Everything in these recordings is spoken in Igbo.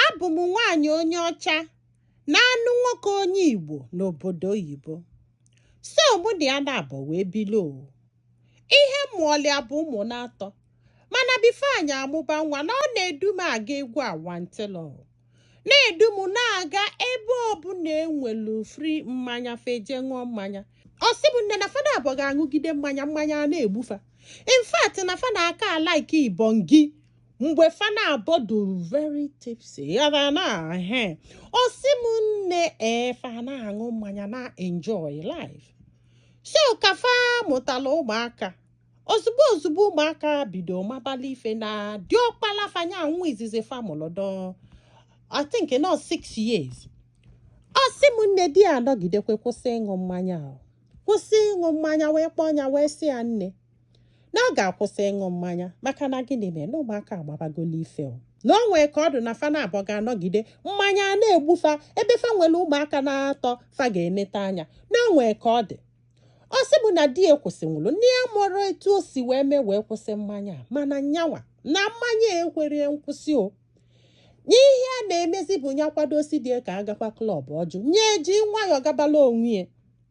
abụ m nwaanyị onye ọcha na-anụ nwoke onye Igbo n'obodo oyibo so mụ na ya naabọ wee bili o ihe m mụọlụ ya bụ ụmụ na-atọ mana before anyị amụba nwa na ọ na-edu m aga egwu awantịlọ na-edu m na-aga ebe ọbụla e nwelu free mmanya fa eje ṅụọ mmanya ọ sị m nne na fa naabọ ga-aṅụgide mmanya mmanya a na-egbu fa in fact na fa na-aka alaiki ibongi mgbe fa naabọ dụ very tipsy ya na na he ọ sị m nne fa na-aṅụ mmanya na enjoy life so ka fa mụtala ụmụaka ozugbo ozugbo ụmụaka bido mabala ife na diọkpala fa nya nwa izizi fa mụrụ dụ I think na ọ six years ọ sị m nne di ya anọgidekwe kwụsị ịṅụ mmanya o kwụsị ịṅụ mmanya wee kpọọ ya wee sị ya nne na ọ ga-akwụsị ịṅụ mmanya maka na gịnị mere na ụmụaka amabagolu ife o na o nwee ka ọ dị na fa naabọ ga-anọgide mmanya a na-egbu fa ebe fa nwere ụmụaka na-atọ fa ga-eneta anya na o nwee ka ọ dị ọ sị m na di ya kwụsịnwuru nya amarọ etu o si wee mee wee kwụsị mmanya a, mana nya nwa na mmanya ekwerọ nkwụsị o na ihe ya na-emezi bụ ya kwado sị di ka a gakwa club ọ jụ nya eji nwayọọ gabala onwe ya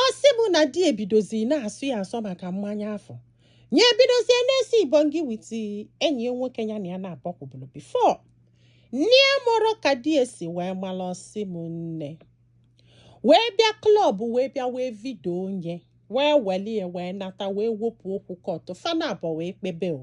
ọ sị m na di ebidozi na-asọ ya asọ maka mmanya afụ nya ebidozie na-esi ibongi with enyi ya nwoke ya na ya na-abọkwubulu before nya amarọ ka di ya si wee mara ọ sị m nne wee bịa club wee bịa wee video nya wee welụ ya wee nata wee wepụ okwu court fa naabọ wee kpebe o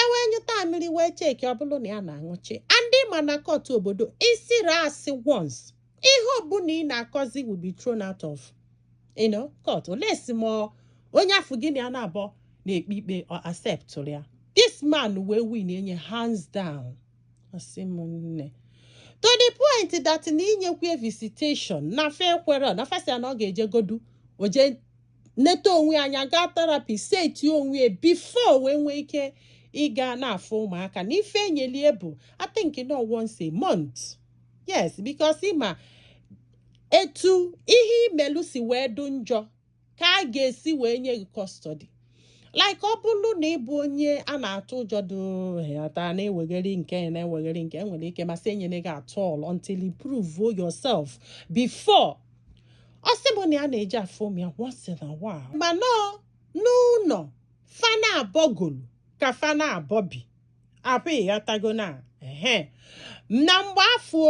e wee nyụta amịrị wee check ọ bụrụ na ya na-aṅụchi and ị ma na court obodo ị sịrị asị once ihe ọbụla ị na-akọzi will be thrown out of you know court unless ma onye afụ gị na ya naabọ na-ekpe ikpe ọ acceptụrụ ya this man wee winie nya hands down ọ sị m nne to the point that na inyekwu visitation na fa ekwerọ na fa sị na ọ ga-eje godu o je neta onwe ya anya gaa therapy seti onwe ya before wee nwee ike ịga na-afụ ụmụaka na ife e nyelụ ya bụ I think na ọ once a month yes because ị ma etu ihe i melu si wee dụ njọ ka a ga-esi wee nye gị custody like ọ bụrụ na ị bụ onye a na-atụ ụjọ dụata na-ewegheri nke na-ewegheri nke e nwere ike ma sị enyerọ gị at all until you prove yourself before ọ sịbu na ya na-eje afụ ụmụ ya once in a while mana n'ụnọ fa naabọ golu ka fa naabọ bi abụ ịghọtago na ehe na mgbe afụ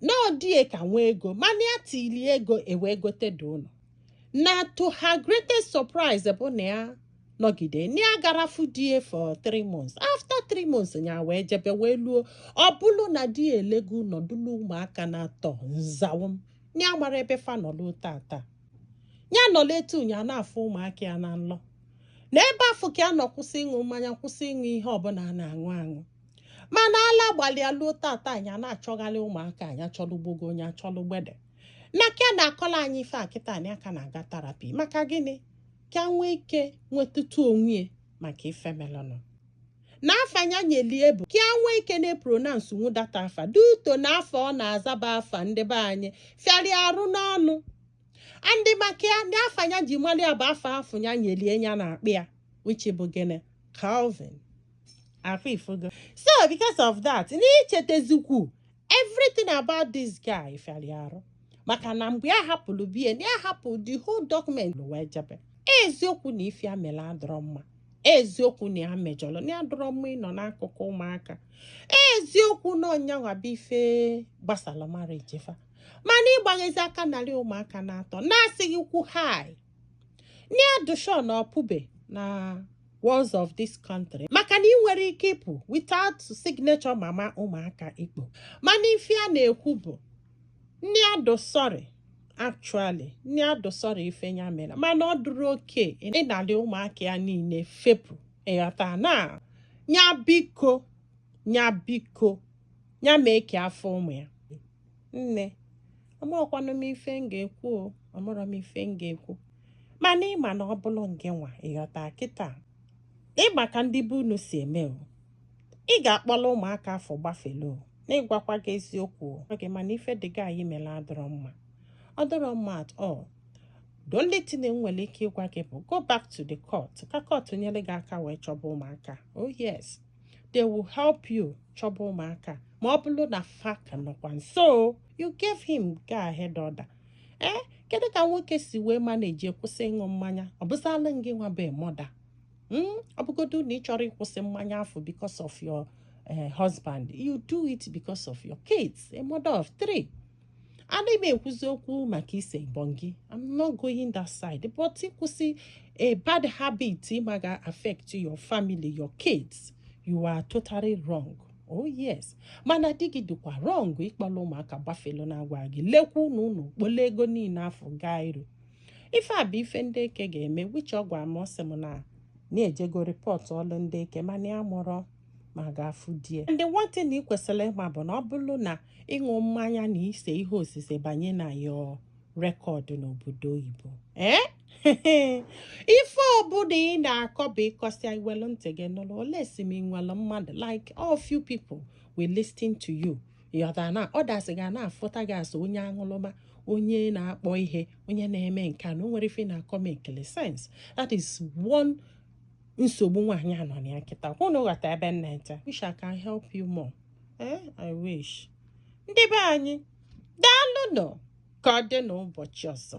na ọ di ya ka nwee ego mana ya tili ego e wee gotedu ụnọ na to her greatest surprise bụ na ya nọgide na ya agarọ afụ di ya for three months after three months ya wee jebe wee luo ọ bụrụ na di ya elego ụnọ dulu ụmụaka naatọ nzawam ya amarọ ebe fa nọ luo tata ya nọlụ etu a nya ana-afụ ụmụaka ya na nlọ na ebe afụ ka ya nọ kwụsị ịṅụ mmanya kwụsị ịṅụ ihe ọbụla a na-aṅụ aṅụ mana ala gbalụ ya luo tata nya ana-achọgharị ụmụaka nya achọlụ gbogo nya achọlụ gbede na ka ya na-akọlụ anyị ife a kịta nya aka na-aga therapy maka gịnị ka nwee ike nwetụtụ onwe ya maka ife melụnụ na afa ya nyelu ya bụ ka a nwee ike na-epronounce nwu that afa due to na afa ọ na-aza bụ afa ndị be anyị fịara arụ n'ọnụ and maka ya ndị afa ya ji malụ ya bụ afa afụ ya nyelu ya ya na-akpọ ya which bụ gịnị Calvin ọkwa ị fụgo so because of that n'ichetezikwu everything about this guy fịara arụ maka na mgbe ya hapụrụ be ya na ya hapụ the whole document wee jebe eziokwu na ife ya mere adịrọ mma eziokwu na ya mejọrọ na ya adịrọ mma ịnọ n'akụkụ ụmụaka eziokwu na ọ nyanwa bụ ife gbasara marriage fa mana ịgbaghezi aka narị ụmụaka naatọ na-asịghịkwu hai nya dị sure na ọ pụbe na walls of this country maka na ị nwerọ ike ịpụ without signature mama ụmụaka ikpo mana ife a na-ekwu bụ nya dị sorry actually nya dị sorry ife ya mere mana ọ dịrọ okay ịnalị ụmụaka ya niile fepụ ịghọta na nya biko nya biko nya mee ka ya fụ ụmụ ya nne amarọkwanụ m ife m ga-ekwu o amarọ m ife m ga-ekwu mana ị ma na ọ bụrụ ngịnwa ịghọta kịta ị ma ka ndị be unu si eme o ị ga-akpọlụ ụmụaka afụ gbafelu o na ịgwakwa gị eziokwu o oge mana ife di gị a mere adịrọ mma ọ dịrọ mma at all the only thing m nwere ike ịgwa gị bụ go back to the court ka court nyere gị aka wee chọba ụmụaka oh yes they will help you chọba ụmụaka ma ọ bụrụ na fa ka nọkwa nso you gave him go ahead order ee eh, kedu ka nwoke si wee manage kwụsị ịṅụ mmanya ọ bụzalụ gịnwa bụ mother hmm? ọ bụgodu na ị chọrọ ịkwụsị mmanya afụ because of your eh, husband you do it because of your kids a mother of three ana m ekwuzi okwu maka ise bongi i'm not going that side but ịkwụsị a bad habit ị ma ga affect your family your kids you are totally wrong oh yes mana di gị dịkwa wrong ịkpọla ụmụaka gbafelu na agwa gị lekwa unu unu kpole ego niile afọ gaa iru ife a bụ ife ndị eke ga-eme which ọ gwa m ọ sị m na ya ejego rịpọtụọlụ ndị eke mana ya mụrụ ma ga-afụ die ndị nwantị na ị kwesịrị ịma bụ na ọ bụrụ na ịṅụ mmanya na ise ihe osise banye na your record n'obodo oyibo ee eh? ife ọbụla ị na-akọ bụ ịkọsịa iwelu ntị gị nụrụ ole si m nwere mmadụ like all few people will listen to you ịghọta na others ga na-afụta gị as onye aṅụlụma onye na-akpọ ihe onye na-eme nke a na o nwere ife na-akọ mekili sense that is one nsogbu nwaanyị a nọ na ya kịta ka unu ghọta ebe nna nta wish i can help you more ee eh, i wish ndị be anyị daalụ nụ ka ọ dị n'ụbọchị ọzọ